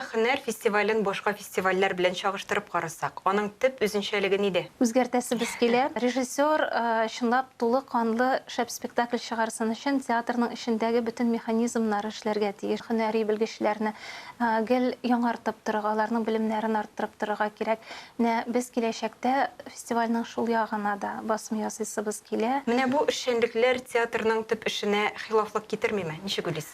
Һөнәр фестивален башка фестивальләр белән чагыштырып карасак, аның төп үзенчәлеге нидә? Үзгәртәсебез килә. Режиссер чынлап тулы канлы шәп спектакль чыгарсын өчен театрның эчендәге бөтен механизмнар эшләргә тиеш. Һөнәри белгечләрне гел яңартып торырга, аларның белемнәрен арттырып торырга кирәк. Менә без киләчәктә фестивальнең шул ягына да басым ясыйсыбыз килә. Менә бу эшчәнлекләр театрның төп эшенә хилафлык китермиме? Ничек уйлыйсыз?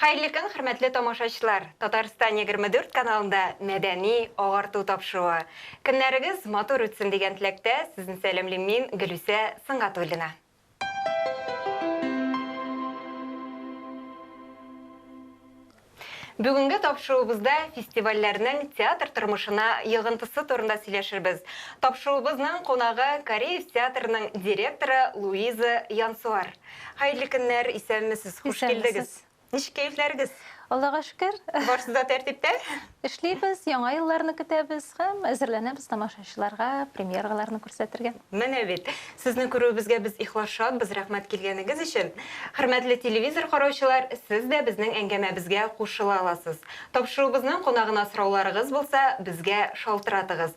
Хәерле көн, хөрмәтле тамашачылар! Татарстан егерме дүрт каналында мәдәни агарту тапшыруы. Көннәрегез матур үтсен дигән теләктә, сезне сәламлим мин, Гөлүсә Сөнгатуллина. Бүгенге тапшыруыбызда фестивальләрнең театр тормышына йогынтысы турында сөйләшербез. Тапшыруыбызның кунагы Кариев театрының директоры Луиза Янсуар. Хәерле көннәр, исәнмесез, хуш килдегез. Ничек кәефләрегез? Аллага шөкер. Барсы да тәртиптә? Эшлибез, яңа елларны көтәбез һәм әзерләнәбез тамашачыларга премьераларны күрсәтергә. Менә бит. Сезне күрүебезгә без ихлас шатбыз, рәхмәт килгәнегез өчен. Хөрмәтле телевизор караучылар, сез дә безнең әңгәмәбезгә кушыла аласыз. Тапшыруыбызның кунагына сорауларыгыз булса, безгә шалтыратыгыз.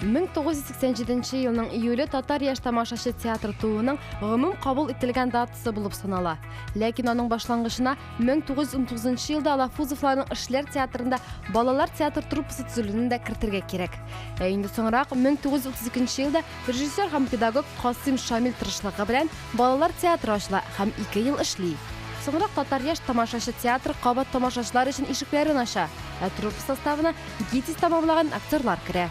1987 елның июле татар яшь тамашачы театры тууының гомум кабул ителгән датасы булып санала. Ләкин аның башлангычына 1919 елда Алафузовларның эшләр театрында балалар театр труппасы төзелүне дә кертергә кирәк. Ә инде соңрак 1932 елда Режиссер һәм педагог Касыйм Шамил тырышлыгы белән балалар театры ачыла һәм ике ел эшли. Соңрак Татар яшь тамашачы театры кабат тамашачылар өчен ишекләрен ача, ә труппа составына ГИТИС тәмамлаган актерлар керә.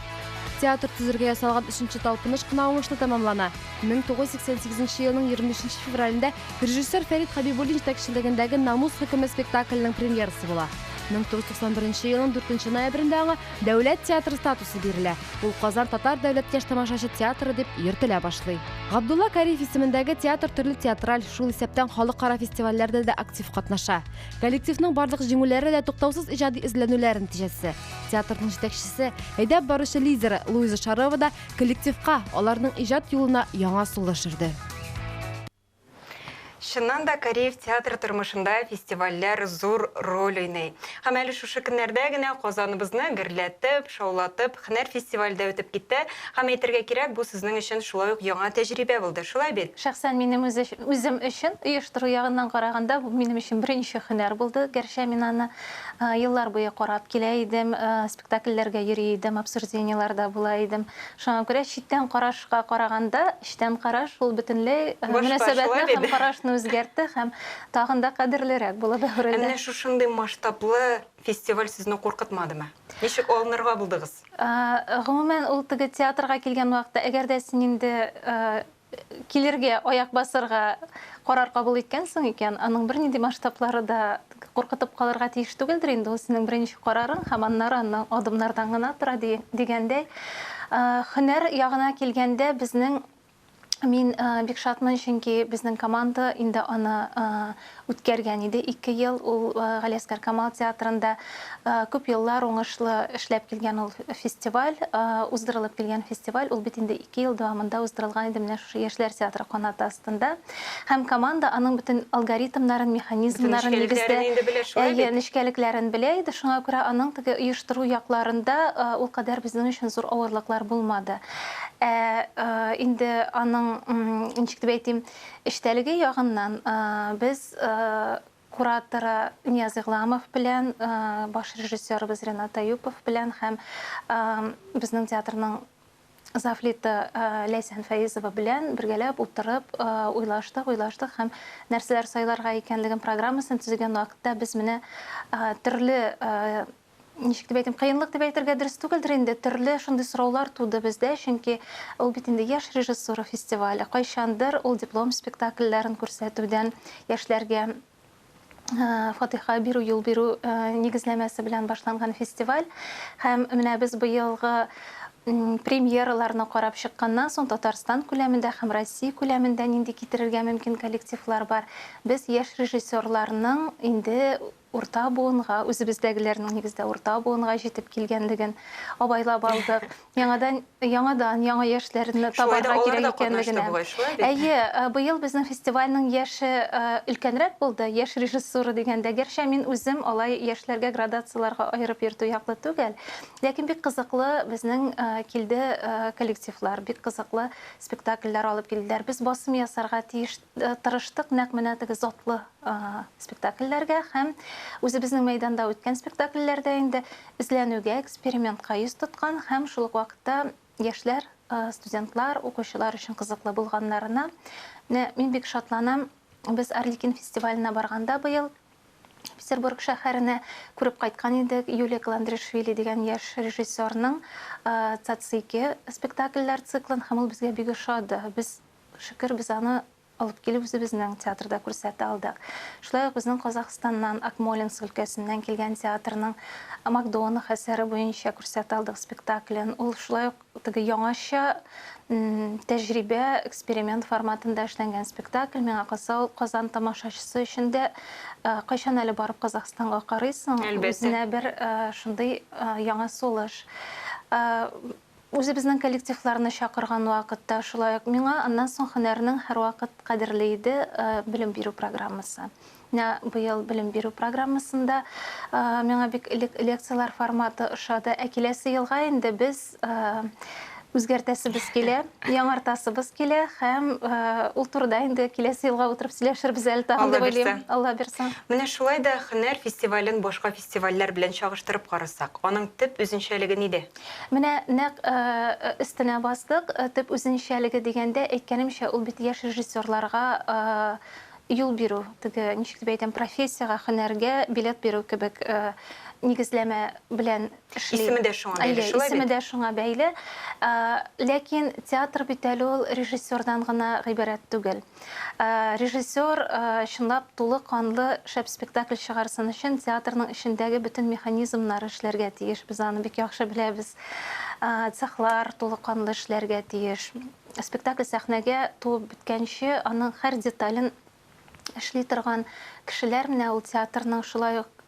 Театр төзергә ясалган өченче талпыныш кына уңышлы тәмамлана. 1988 елның 25 февралендә режиссер Фәрит Хәбибуллин җитәкчелегендәге Намус хөкеме спектакленең премьерасы була. 1991 елның 4 ноябрендә аңа Дәүләт театры статусы бирелә. Ул Казан татар дәүләт яшь тамашачы театры дип йөртелә башлый. Габдулла Кариев исемендәге театр төрле театраль, шул исәптән халыкара фестивальләрдә дә актив катнаша. Коллективның барлык җиңүләре дә туктаусыз иҗади эзләнүләр нәтиҗәсе. Театрның җитәкчесе, әйдәп баручы лидеры Луиза Шарова да коллективка, аларның иҗат юлына яңа сулыш өрде. Чыннан да, Кариев театр тормышында фестивальләр зур роль уйный. Һәм әле шушы көннәрдә генә Казаныбызны гөрләтеп, шаулатып, һөнәр фестивале дә үтеп китте. Һәм әйтергә кирәк, бу сезнең өчен шулай ук яңа тәҗрибә булды, шулай бит? Шәхсән минем үзем өчен, оештыру ягыннан караганда, бу минем өчен беренче һөнәр булды. Гәрчә мин аны еллар буе карап килә идем, спектакльләргә йөри идем, обсуждениеләрдә була идем. Шуңа күрә читтән караш Ка караганда, эчтән караш, ул бөтенләй мөнәсәбәтне һәм карашны үзгәртте һәм тагын да кадерлерәк булып әверелде. Ә менә шушындый масштаблы фестиваль сезне куркытмадымы? Ничек алынырга булдыгыз? Гомумән, ул теге театрга килгән вакытта, әгәр дә син инде килергә, аяк басырга карар кабул иткәнсең икән, аның бернинди масштаблары да Куркытып калырга тиеш түгелдер инде, ул синең беренче карарың һәм аннары аннан адымнардан гына тора, дигәндәй, һөнәр ягына килгәндә, безнең Мин бик шатмын, чөнки безнең команда инде аны үткәргән иде ике ел. Ул Галиәсгар Камал театрында күп еллар уңышлы эшләп килгән ул фестиваль, уздырылып килгән фестиваль. Ул бит инде ике ел дәвамында уздырылган иде менә шушы Яшьләр театры канаты астында. Һәм команда аның бөтен алгоритмнарын, механизмнарын, нигездә, әйе, нечкәлекләрен белә иде, шуңа күрә аның теге оештыру якларында ул кадәр безнең өчен зур авырлыклар булмады. Ә инде аның, ничек дип әйтим, эчтәлеге ягыннан без кураторы Нияз Игъламов белән, баш режиссерыбыз Ренат Аюпов белән һәм безнең театрның Завлита Ләйсән Фәизова белән бергәләп утырып уйлаштык, уйлаштык һәм нәрсәләр сайларга икәнлеген программасын төзегән вакытта без менә төрле ничек дип әйтим, кыенлык дип әйтергә дөрес түгелдер инде, төрле шундый сораулар туды бездә, чөнки ул бит инде яшь режиссура фестивале, кайчандыр ул диплом спектакльләрен күрсәтүдән яшьләргә фатиха бирү юл бирү нигезләмәсе белән башланган фестиваль һәм менә без быелгы премьераларны карап чыкканнан соң Татарстан күләмендә һәм Россия күләмендә нинди китерергә мөмкин коллективлар бар. Без яшь режиссерларның инде урта буынга, үзебездәгеләрнең нигездә урта буынга җитеп килгәнлеген абайлап алдык. Яңадан, яңадан, яңа яшьләрне табарга кирәк икәнлегенә. Әйе, быел безнең фестивальнең яше өлкәнрәк булды, яшь режиссура дигәндә. Гәрчә мин үзем алай яшьләргә градацияләргә аерып йөртү яклы түгел. Ләкин бик кызыклы безнең килде коллективлар, бик кызыклы спектакльләр алып килделәр. Без басым ясарга тиеш Тырыштык нәкъ менә теге затлы спектакльләргә һәм үзебезнең мәйданда үткән спектакльләрдә инде эзләнүгә, экспериментка йөз тоткан һәм шул ук вакытта яшьләр, студентлар, укучылар өчен кызыклы булганнарына. Менә мин бик шатланам, без Арлекин фестиваленә барганда быел Петербург шәһәренә күреп кайткан идек Юлия Каландришвили дигән яшь режиссерның Цацики спектакльләр циклын һәм ул безгә бик ошады. Без Шөкер, без аны алып килеп үзебезнең театрда күрсәтә алдык. Шулай ук безнең Казахстаннан, Акмолинск өлкәсеннән килгән театрның Макдонах әсәре буенча күрсәтә алдык спектаклен. Ул шулай ук теге яңача тәҗрибә, эксперимент форматында эшләнгән спектакль. Миңа калса, ул Казан тамашачысы өчен дә кайчан әле барып Казахстанга карыйсың, үзенә бер шундый яңа сулыш. Үзебезнең коллективларны чакырган вакытта шулай ук миңа аннан соң һөнәрнең һәрвакыт кадерле иде белем бирү программасы. Менә быел белем бирү программасында миңа бик элек лекцияләр форматы ошады, ә киләсе елга инде без үзгәртәсебез килә, яңартасыбыз килә һәм ул турыда инде киләсе елга утырып сөйләшербез әле тагын дип уйлыйм, Алла бирса. Менә шулай да һөнәр фестивален башка фестивальләр белән чагыштырып карасак, аның төп үзенчәлеге нидә? Менә нәкъ өстенә бастык, төп үзенчәлеге дигәндә, әйткәнемчә, ул бит яшь режиссерларга юл бирү, теге, ничек дип әйтәм, профессиягә, һөнәргә билет бирү кебек нигезләмә белән эшли. Исеме дә шуңа бәйле, шулай бит? Әйе, исеме дә шуңа бәйле. Ләкин театр бит әле ул режиссердан гына гыйбарәт түгел. Режиссер чынлап тулы канлы шәп спектакль чыгарсын өчен театрның эчендәге бөтен механизмнар эшләргә тиеш. Без аны бик яхшы беләбез. Цехлар тулы канлы эшләргә тиеш. Спектакль сәхнәгә туып беткәнче аның һәр детален эшли торган кешеләр менә ул театрның шулай ук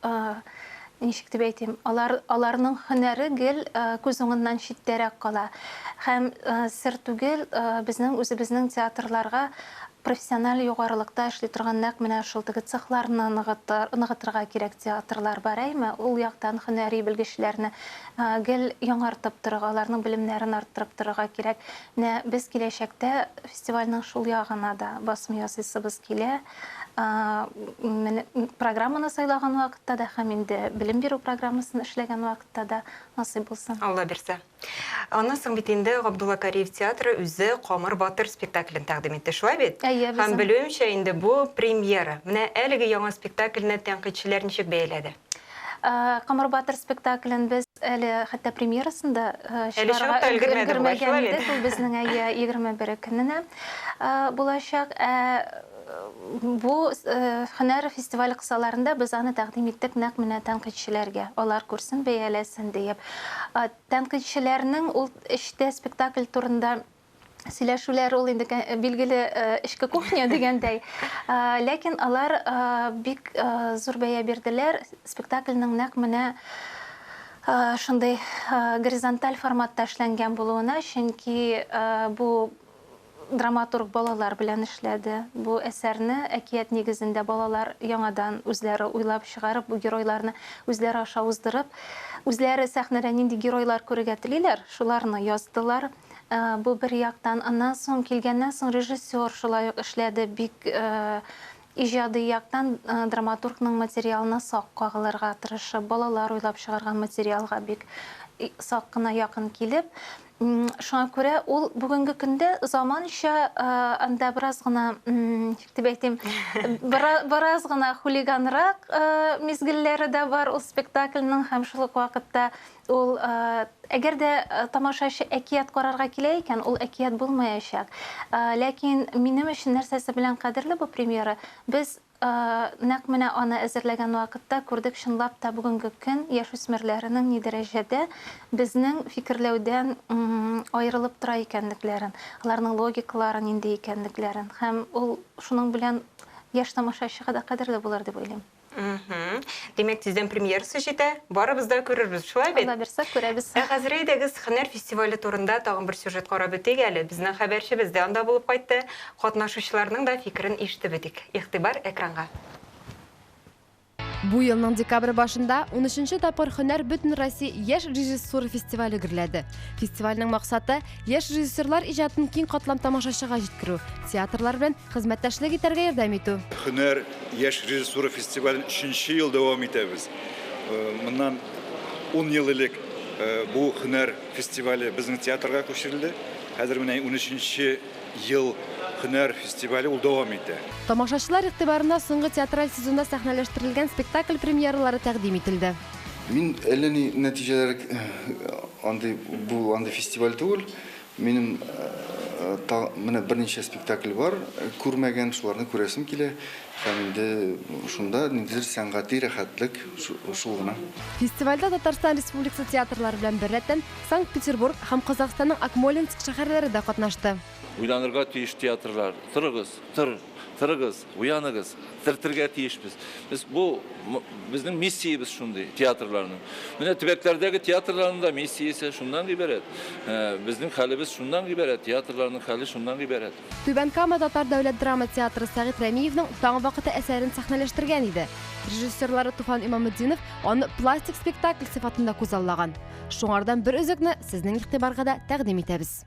Ничек дип әйтим, алар, аларның һөнәре гел күз уңыннан читтәрәк кала. Һәм сер түгел, безнең үзебезнең театрларга профессиональ югарылыкта эшли торган нәкъ менә шул теге цехларны ныгытыр, ныгытырга кирәк театрлар бар, әйме? Ул яктан һөнәри белгечләрне гел яңартып торырга, аларның белемнәрен арттырып торырга кирәк. Менә без киләчәктә фестивальнең шул ягына да басым ясыйсыбыз килә. Программаны сайлаган вакытта да һәм инде белем бирү программасын эшләгән вакытта да насыйп булсын. Алла бирсә. Аннан соң бит инде Габдулла Кариев театры үзе Камыр батыр спектаклен тәкъдим итте, шулай бит? Әйе, безнең. Һәм белүемчә, инде бу премьера. Менә әлеге яңа спектакльне тәнкыйтьчеләр ничек бәяләде? Камыр батыр спектаклен без әле хәтта премьерасын да чыгарырга өлгермәгән идек. Ул безнең әйе 21 көненә булачак. Ә бу һөнәр фестивале кысаларында без аны тәкъдим иттек нәкъ менә тәнкыйтьчеләргә, алар күрсен, бәяләсен диеп. Тәнкыйтьчеләрнең ул эчтә спектакль турында сөйләшүләр ул инде билгеле эчке кухня дигәндәй. Ләкин алар бик зур бәя бирделәр. Спектакльнең нәкъ менә шундый горизонталь форматта эшләнгән булуына, чөнки бу драматург балалар белән эшләде. Бу әсәрне әкият нигезендә балалар яңадан үзләре уйлап чыгарып, бу геройларны үзләре аша уздырып, үзләре сәхнәдә нинди геройлар күрергә телиләр, шуларны яздылар. Бу бер яктан. Аннан соң, килгәннән соң режиссер шулай ук эшләде. Бик иҗади яктан драматургның материалына сак кагылырга тырышып, балалар уйлап чыгарган материалга бик сак кына якын килеп, шуңа күрә ул бүгенге көндә заманча анда бераз гына, ничек дип әйтим, бераз гына хулиганрак мизгелләре дә бар ул спектакльнең һәм шул ук вакытта Ул, әгәр дә тамашачы әкият карарга килә икән, ул әкият булмаячак. Ләкин минем өчен нәрсәсе белән кадерле бу премьера, без нәкъ менә аны әзерләгән вакытта күрдек, чынлап та бүгенге көн яшүсмерләренең ни дәрәҗәдә безнең фикерләүдән аерылып тора икәнлекләрен, аларның логикалары нинди икәнлекләрен. Һәм ул шуның белән яшь тамашачыга да кадерле булыр дип уйлыйм. Мхм. Димәк, тиздән премьерасы җитә. Барыбыз да күрербез, шулай бит? Алла бирсә, күрәбез. Ә хәзер әйдәгез, һөнәр фестивале турында тагын бер сюжет карап үтик әле. Безнең хәбәрчебез дә анда булып кайтты. Катнашучыларның да фикерен ишетеп үтик. Игътибар экранга. Бу елның декабрь башында унөченче тапкыр Һөнәр бөтенроссия яшь режиссура фестивале гөрләде. Фестивальнең максаты, Яшь режиссерлар иҗатын киң катлам тамашачыга җиткерү, театрлар белән хезмәттәшлек итәргә ярдәм итү. Һөнәр, яшь режиссура фестивален өченче ел дәвам итәбез. Моннан ун ел элек бу һөнәр фестивале безнең театрга күчерелде. Хәзер менә унөченче ел һөнәр фестивале ул дәвам итә. Тамашачылар игътибарына соңгы театраль сезонда сәхнәләштерелгән спектакль премьералары тәкъдим ителде. Мин әллә ни нәтиҗәләр андый бу андый фестиваль түгел. Минем менә берничә спектакль бар, күрмәгән, шуларны күрәсем килә. Һәм инде шунда ниндидер сәнгати рәхәтлек шул гына. Фестивальдә Татарстан Республикасы театрлары белән беррәттән Санкт-Петербург һәм Казахстанның Акмолинск шәһәрләре дә катнашты. Уйланырга тиеш театрлар, торыгыз, тор, торыгыз! Уяныгыз, терелтергә тиешбез. Без бу безнең миссиябез шундый театрларның. Менә төбәкләрдәге театрларның да миссиясе шуннан гыйбарәт. Ә, Безнең хәлебез шуннан гыйбарәт, театрларның хәле шуннан гыйбарәт. Түбән Кама татар дәүләт драма театры Сәгыйть Рәмиевнең Таң вакыты әсәрен сәхнәләштергән иде. Режиссерлары Туфан Имаметдинов аны пластик спектакль сыйфатында күзаллаган. Шуңардан бер өзекне сезнең игътибарга да тәкъдим итәбез.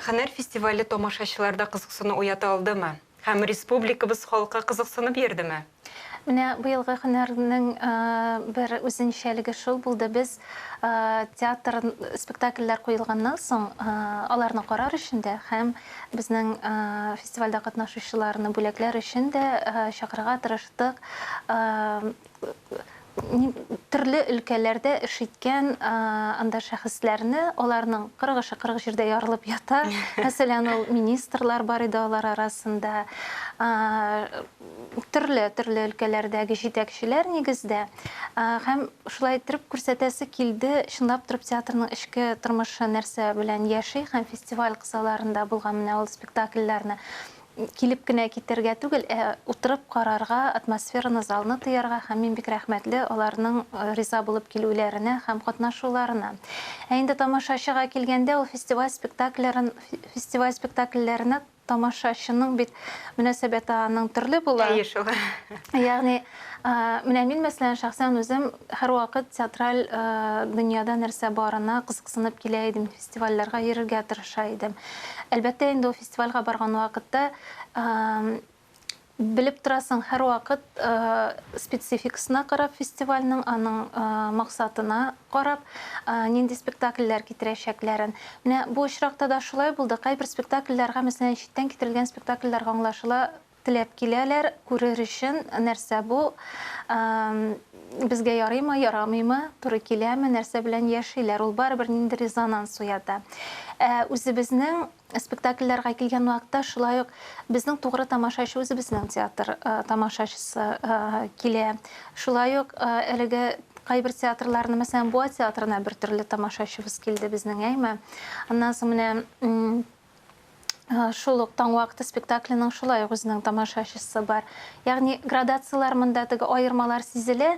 Хәнәр фестивале тамашачыларда кызыксыну уята алдымы? Һәм республикабыз халкы кызыксынып йөрдеме? Менә быелгы һөнәрнең бер үзенчәлеге шул булды, без театр спектакльләр куелганнан соң, аларны карар өчен дә һәм безнең фестивальдә катнашучыларны бүләкләр өчен дә чакырырга тырыштык. төрле өлкәләрдә эш иткән анда шәхесләрне, аларның 40 эше 40 җирдә ярылып ята. Мәсәлән, ул министрлар бар иде алар арасында. Төрле, төрле өлкәләрдәге җитәкчеләр нигездә. Һәм шулай иттереп күрсәтәсе килде, чынлап торып театрның эчке тормышы нәрсә белән яши һәм фестиваль кысаларында булган менә ул спектакльләрне Килеп кенә китәргә түгел, ә утырып карарга, атмосфераны, залны тоярга һәм мин бик рәхмәтле аларның риза булып килүләренә һәм катнашуларына. Ә инде тамашачыга килгәндә, ул фестиваль спектакльләрен фестиваль спектакльләренә тамашачының бит мөнәсәбәте аның төрле була. Әйе шул. Ягъни, менә мин мәсәлән шәхсән үзем һәрвакыт театраль дөньяда нәрсә барына кызыксынып килә идем. фестивальләргә йөрергә тырыша идем. Әлбәттә инде ул фестивальгә барган вакытта белеп торасың, һәрвакыт спецификасына карап фестивальнең, аның максатына карап, нинди спектакльләр китерәчәкләрен. Менә бу очракта да шулай булды. Кайбер спектакльләргә, мәсәлән, читтән китерелгән спектакльләргә аңлашыла Теләп киләләр, күрер өчен, нәрсә бу, безгә ярыймы, ярамыймы, туры киләме, нәрсә белән яшиләр, ул барыбер ниндидер резонанс уята. Ә үзебезнең спектакльләргә килгән вакытта шулай ук безнең тугры тамашачы үзебезнең театр тамашачысы килә. Шулай ук әлеге кайбер театрларны, мәсәлән, Буа театрына бер төрле тамашачыбыз килде безнең, әйме. Аннан соң менә Шул ук Таң вакыты спектакленең шулай ук үзенең тамашачысы бар. Ягъни градацияләр монда, теге аермалар сизелә.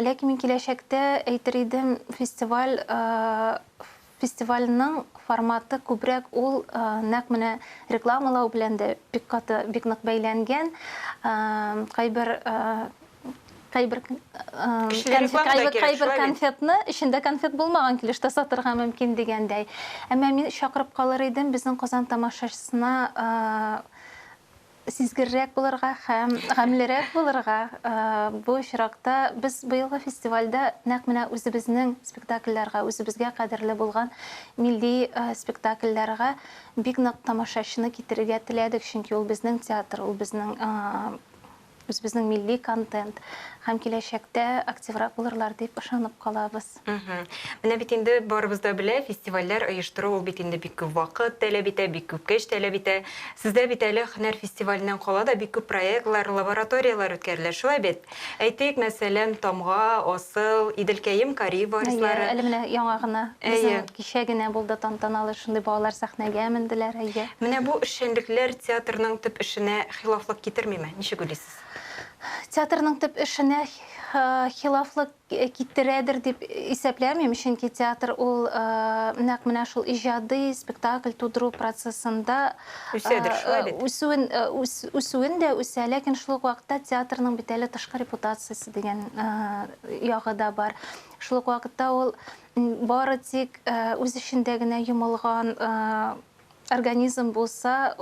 Ләкин мин киләчәктә әйтер идем, фестиваль фестивальнең форматы күбрәк ул нәкъ менә рекламалау белән дә бик каты, бик нык бәйләнгән. Кайбер кайбер кайбер конфетны эчендә конфет булмаган килештә сатырга мөмкин дигәндәй. Әмма мин чакырып калыр идем безнең Казан тамашачысына сизгеррәк булырга һәм гамьлерәк булырга. Бу очракта без быелгы фестивальдә нәкъ менә үзебезнең спектакльләргә, үзебезгә кадерле булган милли спектакльләргә бик нык тамашачыны китерергә теләдек, чөнки ул безнең театр, ул безнең үзебезнең милли контент һәм киләчәктә активрак булырлар дип ышанып калабыз. Менә бит инде барыбыз да белә, фестивальләр оештыру ул бит инде бик күп вакыт таләп итә, бик күп көч таләп итә. Сездә бит әле һөнәр фестиваленнән кала да бик күп проектлар, лабораторияләр үткәрелә, шулай бит? Әйтик, мәсәлән, Тамга, Асыл, Иделкәем, Кариев варислары. Әйе, әле менә яңа гына, безнең кичә генә булды тантаналы шундый балалар сәхнәгә менделәр, әйе. Менә бу эшчәнлекләр театрның төп эшенә хилафлык китермиме? Ничек уйлыйсыз? Театрның төп эшенә хилафлык китерәдер дип исәпләмим, чөнки театр ул нәкъ менә шул иҗади спектакль тудыру процессында үсәдер шулай бит. Үсүен үсүен дә үсә, ләкин шул ук вакытта театрның бит әле тышкы репутациясе дигән ягы да бар. Шул ук вакытта ул бары тик үз эчендә генә йомылган организм булса,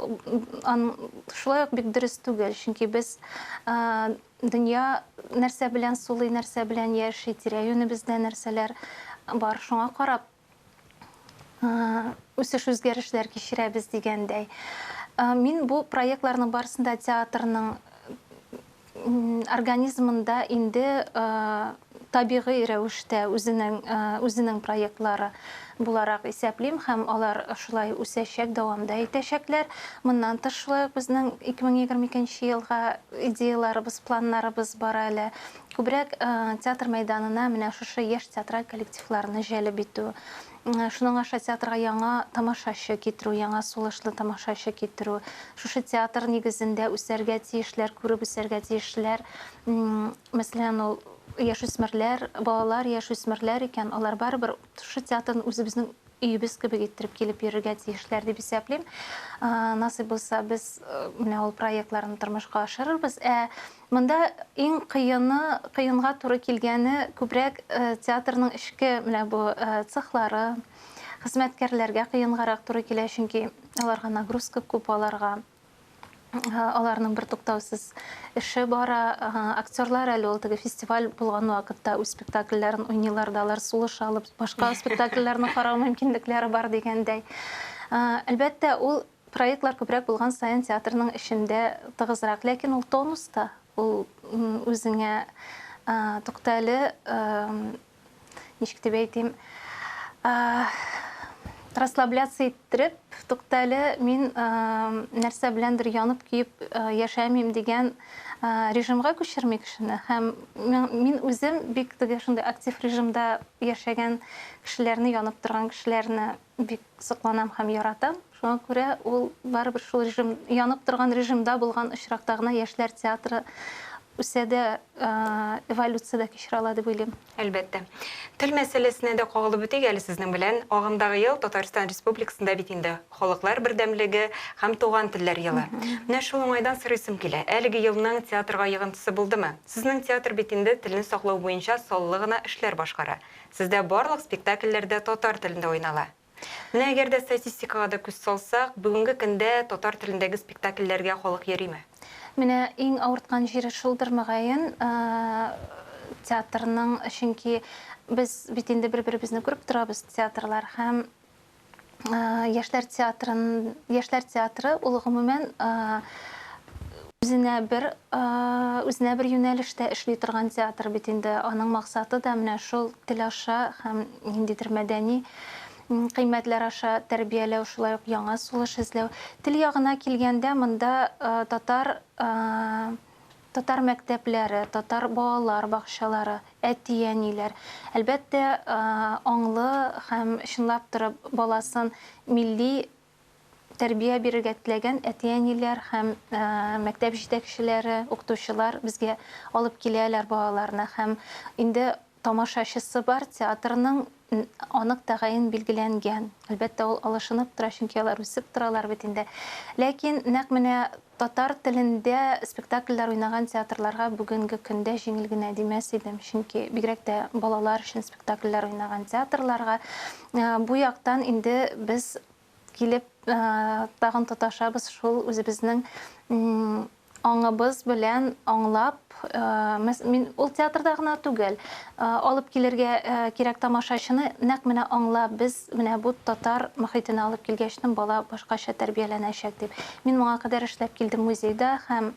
шулай ук бик дөрес түгел, чөнки без дөнья нәрсә белән сулый, нәрсә белән яши, тирә-юнебездә нәрсәләр бар, шуңа карап үсеш үзгәрешләр кичерәбез дигәндәй. Мин бу проектларның барысында театрның Организмында инде табигый рәвештә үзенең үзенең проектлары буларак исәплим һәм алар шулай үсәчәк, дәвам да итәчәкләр. Моннан тыш шулай ук безнең 2022 елга идеяларыбыз, планнарыбыз бар әле. Күбрәк театр мәйданына менә шушы яшь театраль коллективларны җәлеп итү, Шуның аша театрга яңа тамашачы китерү, яңа сулышлы тамашачы китерү, шушы театр нигезендә үсәргә тиешләр, күреп үсәргә тиешләр. Мәсәлән, ул яшүсмерләр, балалар, яшүсмерләр икән, алар барыбер шушы театрны үзебезнең өебез кебек иттереп килеп йөрергә тиешләр дип исәплим. Насыйп булса, без менә ул проектларны тормышка ашырырбыз. Ә Монда иң кыены, кыенга туры килгәне күбрәк театрның эчке менә бу цехлары, хезмәткәрләргә кыенгарак туры килә, чөнки аларга нагрузка күп аларга. Аларның бертуктаусыз эше бара. Актерлар әле ул теге фестиваль булган вакытта үз спектакльләрен уйныйлар да, алар сулыш алып, башка спектакльләрне карау мөмкинлекләре бар дигәндәй. Әлбәттә, ул Проектлар күбрәк булган саен театрның эчендә тыгызрак, ләкин ул тонуста, ул үзеңә туктале, ничек дип әйтим, расслабляться иттереп туктале, мин нәрсә беләндер янып-көеп яшәмим дигән режимга күчерми кешене. Һәм мин үзем бик теге шундый актив режимда яшәгән кешеләрне, янып торган кешеләрне Бик сокланам һәм яратам. Шуңа күрә ул барыбер шул режим, янып торган режимда булган очракта гына яшьләр театры үсә дә, эволюция дә кичерә ала дип уйлыйм. Әлбәттә. Тел мәсьәләсенә дә кагылып үтик әле сезнең белән. Агымдагы ел Татарстан Республикасында бит инде Халыклар бердәмлеге һәм туган телләр елы. Менә шул уңайдан сорыйсым килә, әлеге елның театрга йогынтысы булдымы? Сезнең театр бит инде телне саклау буенча саллы гына эшләр башкара. Сездә барлык спектакльләр дә татар телендә уйнала. Менә әгәр дә статистикага да күз салсак, бүгенге көндә татар телендәге спектакльләргә халык йөрими. Менә иң авырткан җире шулдыр, мөгаен, театрның, чөнки без бит инде бер-беребезне күреп торабыз, театрлар, һәм яшьләр театрын яшьләр театры ул гомумән үзенә бер үзенә бер юнәлештә эшли торган театр бит инде аның максаты да менә шул тел аша һәм ниндидер мәдәни кыйммәтләр аша тәрбияләү шулай ук яңа сулыш эзләү тел ягына килгәндә монда татар Татар мәктәпләре, татар балалар бакчалары, әти-әниләр, әлбәттә, аңлы һәм чынлап торып баласын милли тәрбия бирергә теләгән әти-әниләр һәм мәктәп җитәкчеләре, укытучылар безгә алып киләләр балаларны һәм инде Тамашачысы бар театрның анык тәгаен билгеләнгән. Әлбәттә, ул алышынып тора, чөнки алар үсеп торалар бит инде. Ләкин нәкъ менә татар телендә спектакльләр уйнаган театрларга бүгенге көндә җиңел генә димәс идем, чөнки бигрәк тә балалар өчен спектакльләр уйнаган театрларга бу яктан инде без килеп тагын тоташабыз шул үзебезнең аңыбыз белән аңлап мин ул театрда гына түгел алып килергә кирәк тамашачыны нәкъ менә аңлап без менә бу татар мөхитенә алып килгәчтен бала башкача тәрбияләнәчәк дип мин моңа кадәр эшләп килдем музейда һәм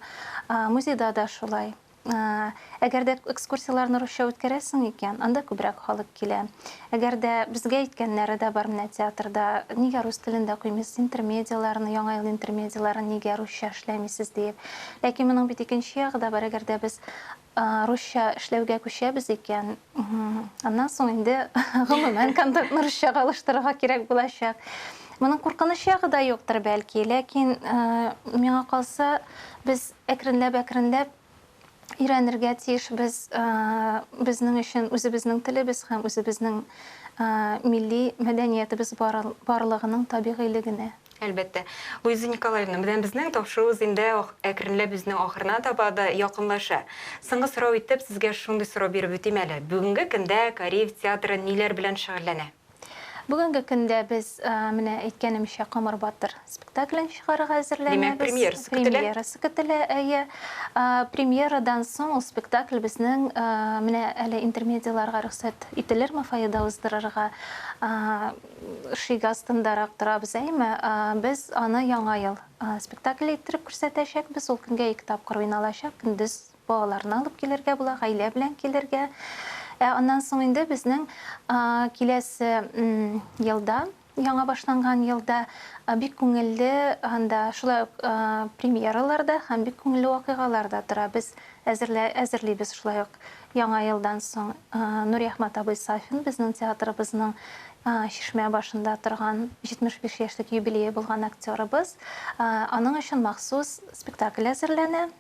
музейда да шулай Әгәр дә экскурсияләрне русча үткәрәсең икән, анда күбрәк халык килә. Әгәр дә безгә әйткәннәре дә бар, менә театрда нигә рус телендә куймыйсыз интермедияләрне, Яңа ел интермедияләрен нигә русча эшләмисез диеп. Ләкин моның бит икенче ягы да бар, әгәр дә без русча эшләүгә күчәбез икән, аннан соң инде гомумән контентны русчага алыштырырга кирәк булачак. Моның куркыныч ягы да юктыр, бәлки, ләкин миңа калса, без Әкренләп-әкренләп өйрәнергә тиешбез. Безнең өчен үзебезнең телебез һәм үзебезнең милли мәдәниятебез барлыгының табигыйле генә. Әлбәттә. Луиза Николаевна, менә безнең тапшыруыбыз инде әкренләп үзенең ахырына таба да якынлаша. Соңгы сорау итеп, сезгә шундый сорау биреп үтим әле. Бүгенге көндә Кариев театры ниләр белән шөгыльләнә? Бүгенге көндә без, менә әйткәнемчә, Камыр батыр спектаклен чыгарырга әзерләнәбез. Димәк, премьерасы көтелә? Премьерасы көтелә, әйе. Премьерадан соң ул спектакль безнең, менә әле интермедияларга рөхсәт ителерме фойеда уздырырга, шиге астындарак торабыз, әйеме? Без аны Яңа ел спектакле иттереп күрсәтәчәкбез. Ул көнгә ике тапкыр уйналачак, көндез Балаларны алып килергә була, гаилә белән килергә. Ә аннан соң инде безнең киләсе елда, яңа башланган елда бик күңелле анда шулай ук премьералар да һәм бик күңелле вакыйгалар да тора. Без әзерлибез шулай ук Яңа елдан соң Нуриәхмәт абый Сафин безнең театрыбызның Чишмә башында торган 75 яшьлек юбилее булган актерыбыз. Аның өчен махсус спектакль әзерләнә.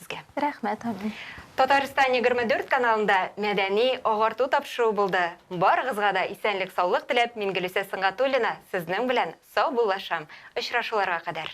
Сезгә. Рәхмәт, Амин. Татарстан егерме дүрт каналында мәдәни агарту тапшыруы булды. Барыгызга да исәнлек-саулык теләп, Мингөлүсә Сынгатуллина сезнең белән саубуллашам. Очрашуларга кадәр.